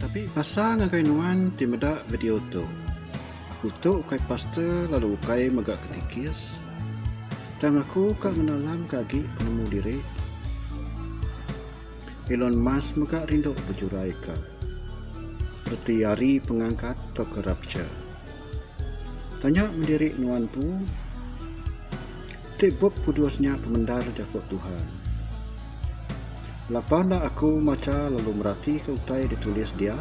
Tapi pasal ngagai nuan ti meda video tu. Aku tu ukai pastor lalu ukai mega ketikis. Tang aku ka ngenalam ka agi penemu diri. Elon Musk mega rindu bejuraika reti ari pengangkat tauka rapture. Tanya mendiri nuan empu, Ti Bup Kudus nya pemendar Jaku Tuhan? Lapa enda aku macha lalu meratika utai ditulis dia?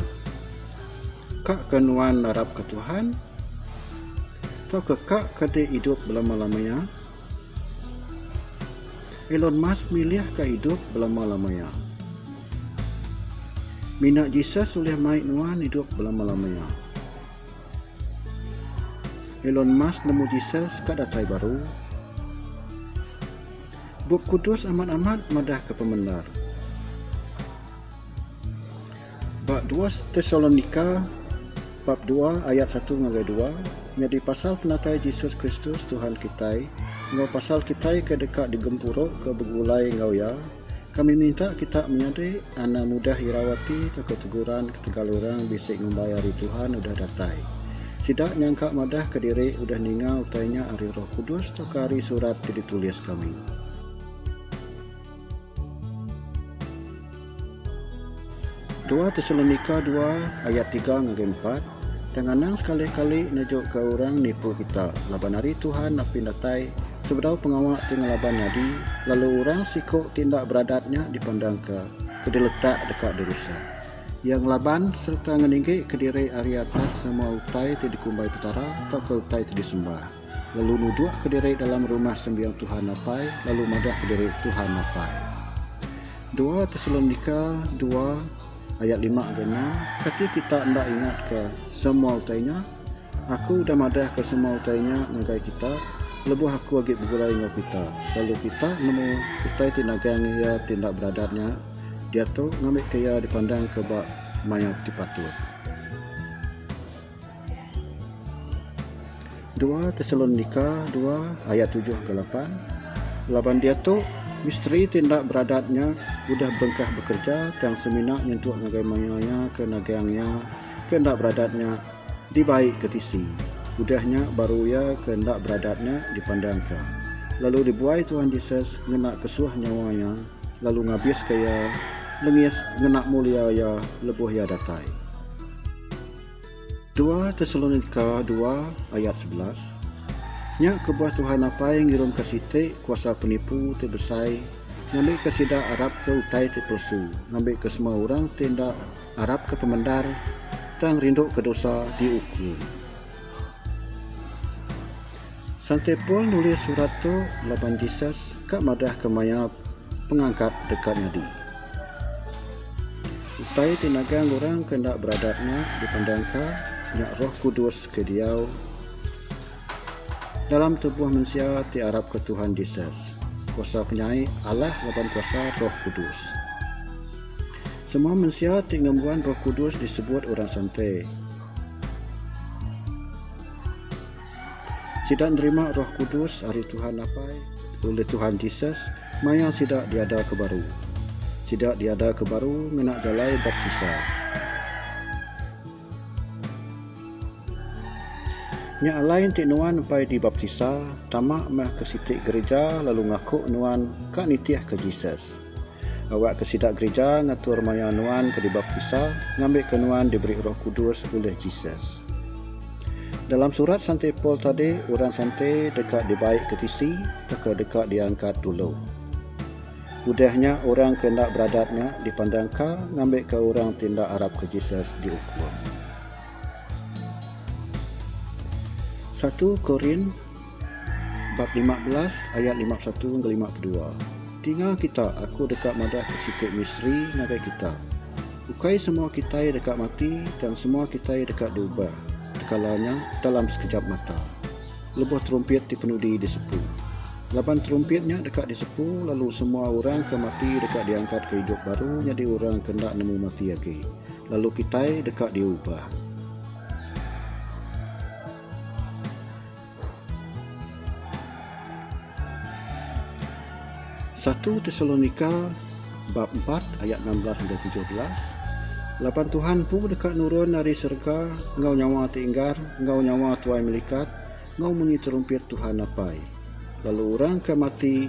Ka ke nuan narapka Tuhan? Tauka ka ke dek idup belama-lamanya? Elon Musk milih ka idup belama-lamaya. Mina Jesus ulih mai nuan idup belama-lamaya. Elon Musk nemu Jesus ka datai baru. Bup Kudus amat-amat madahka pemendar. Ba dua Tesalonika bab dua ayat satu ngagai dua, nyadi pasal penatai Jesus Kristus Tuhan kitai enggau pasal kitai ke deka digempuruka begulai enggau Iya, kami minta kita menyadi Ana mudah irau ati tauka teguran ketegal orang bisi ngumbai Hari Tuhan udah datai. Sida nyangka madahka diri udah ninga utai nya ari Roh Kudus tauka ari surat ti ditulis kami. Dua Tesalonika dua ayat tiga ngagai empat, Tang anang sekali-kali nejuka orang nipu kita, laban Hari Tuhan napin datai sebedau pengawa ti ngelaban nyadi, lalu orang siku ti enda beradat nya dipandangka ke diletak deka dirusak. Iya ngelaban sereta ngeninggi kediri ari atas semua utai ti dikumbai Petara tauka utai ti disembah. lalu nudukka diri dalam Rumah Sembiang Tuhan Apai lalu madahka diri Tuhan Apai. Dua Tesalonika dua ayat lima enggau enam, Kati kita enda ingatka semua utai nya? Aku udah madahka semua utai nya ngagai kita lebuh aku agi begurai enggau kita, lalu kita nemu utai ti nagang iya ti enda beradat nya diatu ngambika iya dipandangka ba maya ti patut. Dua Tesalonika dua ayat tujuh ke lapan, Laban diatu, misteri ti enda beradat nya udah berengkah bekereja tang semina nyentuk ngagai maya iya ke nagang iya ke enda beradat nya dibai ke tisi, udah nya baru iya ke enda beradat nya dipandangka, lalu dibuai Tuhan Jesus ngena kesuah nyawa iya lalu ngabiska iya lengis ngena mulia iya lebuh iya datai. Dua Tesalonika dua ayat sebelas, Nya kebuah Tuhan Apai ngirumka siti kuasa penipu ti besai ngambika sida arapka utai ti pelesu ngambika semua orang ti enda arapka pemendar tang rinduka dosa diukum. Santi Paul nulis surat tu laban Jesus ka madah ke maya Pengangkat deka nyadi. Utai ti nagang orang ke enda beradat nya dipandang ka nya Roh Kudus ke diau dalam tubuh mensia ti arap ke Tuhan Jesus, kuasa penyai Allah laban kuasa Roh Kudus. Semua mensia ti ngembuan Roh Kudus disebut orang santi. Sida nerima Roh Kudus ari Tuhan Apai ulih Tuhan Jesus maya sida diadaka baru. Sida diadaka baru ngena jalai baptisa. Nya alai enti nuan empai dibaptisa, tama meh ke siti gereja lalu ngaku nuan ka nitihka Jesus. Awakka sida gerija ngatur maya nuan ke dibaptisa ngambika nuan diberi Roh Kudus ulih Jesus. Dalam surat Santi Paul tadi, orang santi deka dibaikka tisi tauka deka diangkat dulu. Udah nya, orang ke enda beradat nya dipandangka ngambika orang ti enda arapka Jesus diukum. Satu Korin. Bab lima belas ayat lima besatu enggau lima bedua Tinga kita, aku deka madahka siti misteri ngagai kita. Ukai semua kitai deka mati tang semua kitai deka diubah tekala nya dalam sekejap mata lebuh terumpit ti penudi disepu. Laban terumpit nya deka disepu lalu semua orang ke mati deka diangkatka idup baru nyadi orang ke enda nemu mati agi lalu kitai deka diubah. Satu Tesalonika bab empat ayat enam belas enggau tujuh belas Laban Tuhan empu deka nurun ari serega enggau nyawa ti enggar enggau nyawa tuai melikat enggau munyi terumpit Tuhan Apai. Lalu orang ke mati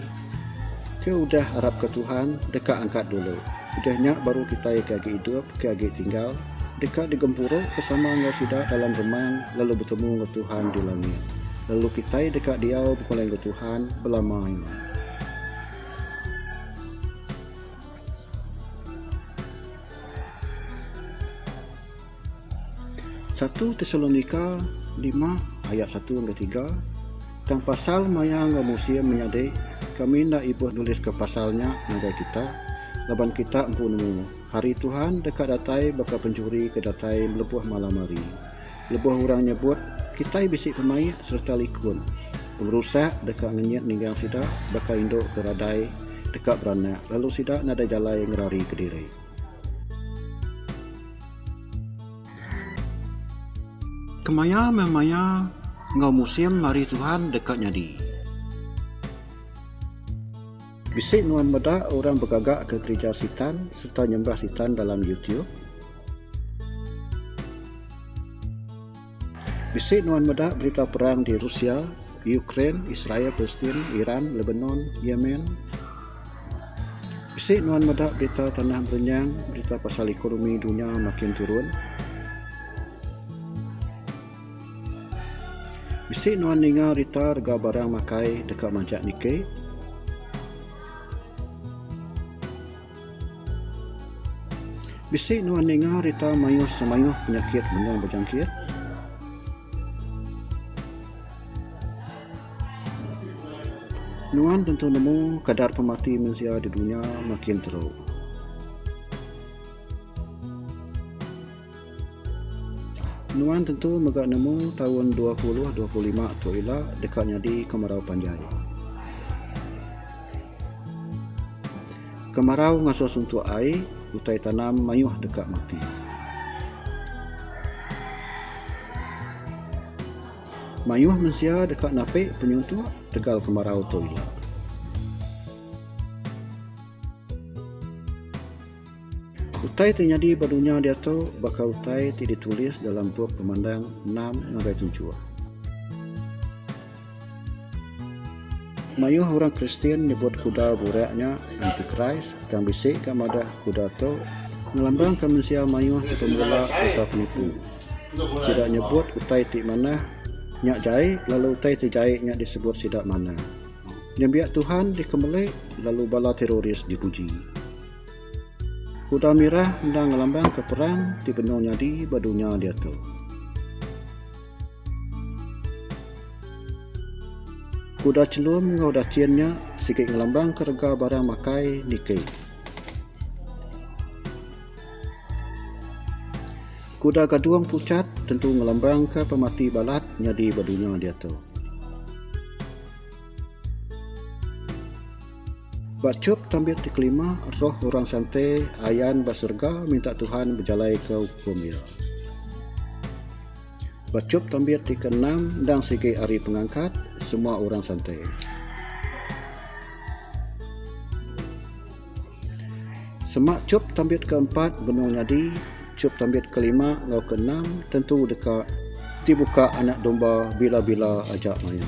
ke udah arapka Tuhan deka angkat dulu. Udah nya baru kitai ke agi idup ke agi tinggal deka digempuru besama enggau sida dalam remang lalu betemu enggau Tuhan di langit. Lalu kitai deka diau begulai enggau Tuhan belama ini. Satu Tesalonika lima ayat satu enggau tiga, Tang pasal maya enggau musim menyadi, kami enda ibuh nuliska pasal nya ngagai kita, laban kita empu nemu, hari Tuhan deka datai baka penjuri ke datai lebuh malam hari. Lebuh orang nyebut, Kitai bisi pemaik sereta likun, pengerusak deka ngenyit ninggang sida baka indu ke radai deka beranak lalu sida nadai jalai ngerarika diri. Kemaya meh maya enggau musim ari Tuhan deka nyadi. Bisi nuan meda orang begaga ke gerija Sitan sereta nyembah Sitan dalam YouTube? Bisi nuan meda berita perang di Rusia, Ukraine, Israel, Palestin, Iran, Lebanon, Yemen. Bisi nuan meda berita tanah berenyang, berita pasal ekonomi dunya makin turun. Bisi nuan ninga rita rega barang makai deka majak niki. Bisi nuan ninga rita mayuh semayuh penyakit menua bejangkit? Nuan tentu nemu kadar pemati mensia di dunya makin teruk. Nuan tentu mega nemu taun dua puluh dua puluh lima tu ila deka nyadi kemarau panjai. Kemarau ngasuh suntuk ai utai tanam mayuh deka mati. Mayuh mensia deka napi penyuntuk tegal kemarau tu ila. Utai ti nyadi ba dunya diatu baka utai ti ditulis dalam bup Pemandang enam ngagai tujuh. Mayuh orang Kristian nyebut kuda burak nya Antikris, tang bisi ga madah kuda tu ngelambangka mensia mayuh ti pemula sereta penipu. Sida nyebut utai ti manah nya jai lalu utai ti jai nya disebut sida manah. Nembiak Tuhan dikemeli lalu bala teroris dipuji. Kuda mirah enda ngelambangka perang ti benung nyadi ba dunya diatu. Kuda chelum enggau dachin nya sigi ngelambangka rega barang makai niki. Kuda gadung puchat tentu ngelambangka pemati balat nyadi ba dunya diatu. Ba chop tambit ti kelima, roh orang santai ayan ba serega minta Tuhan bejalaika ukum iya. Ba chop tambit ti keenam endang sigi ari pengangkat semua orang santai. Sema chop tambit keempat benung nyadi, chop tambit kelima enggau keenam tentu deka dibuka Anak Domba bila-bila aja maya.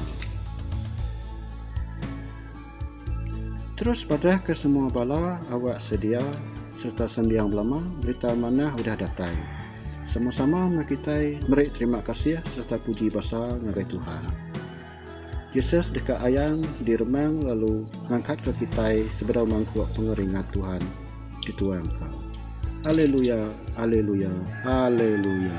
Terus padah ke semua bala awak sedia serta sembiang belama berita manah udah datai. Sama sama meh kitai meri terima kasih serta puji basar ngagai Tuhan. Jesus deka ayan di remang lalu ngangkat ke kitai sebedau mangkuk pengeringat Tuhan dituang ka. Aleluya, aleluya, aleluya.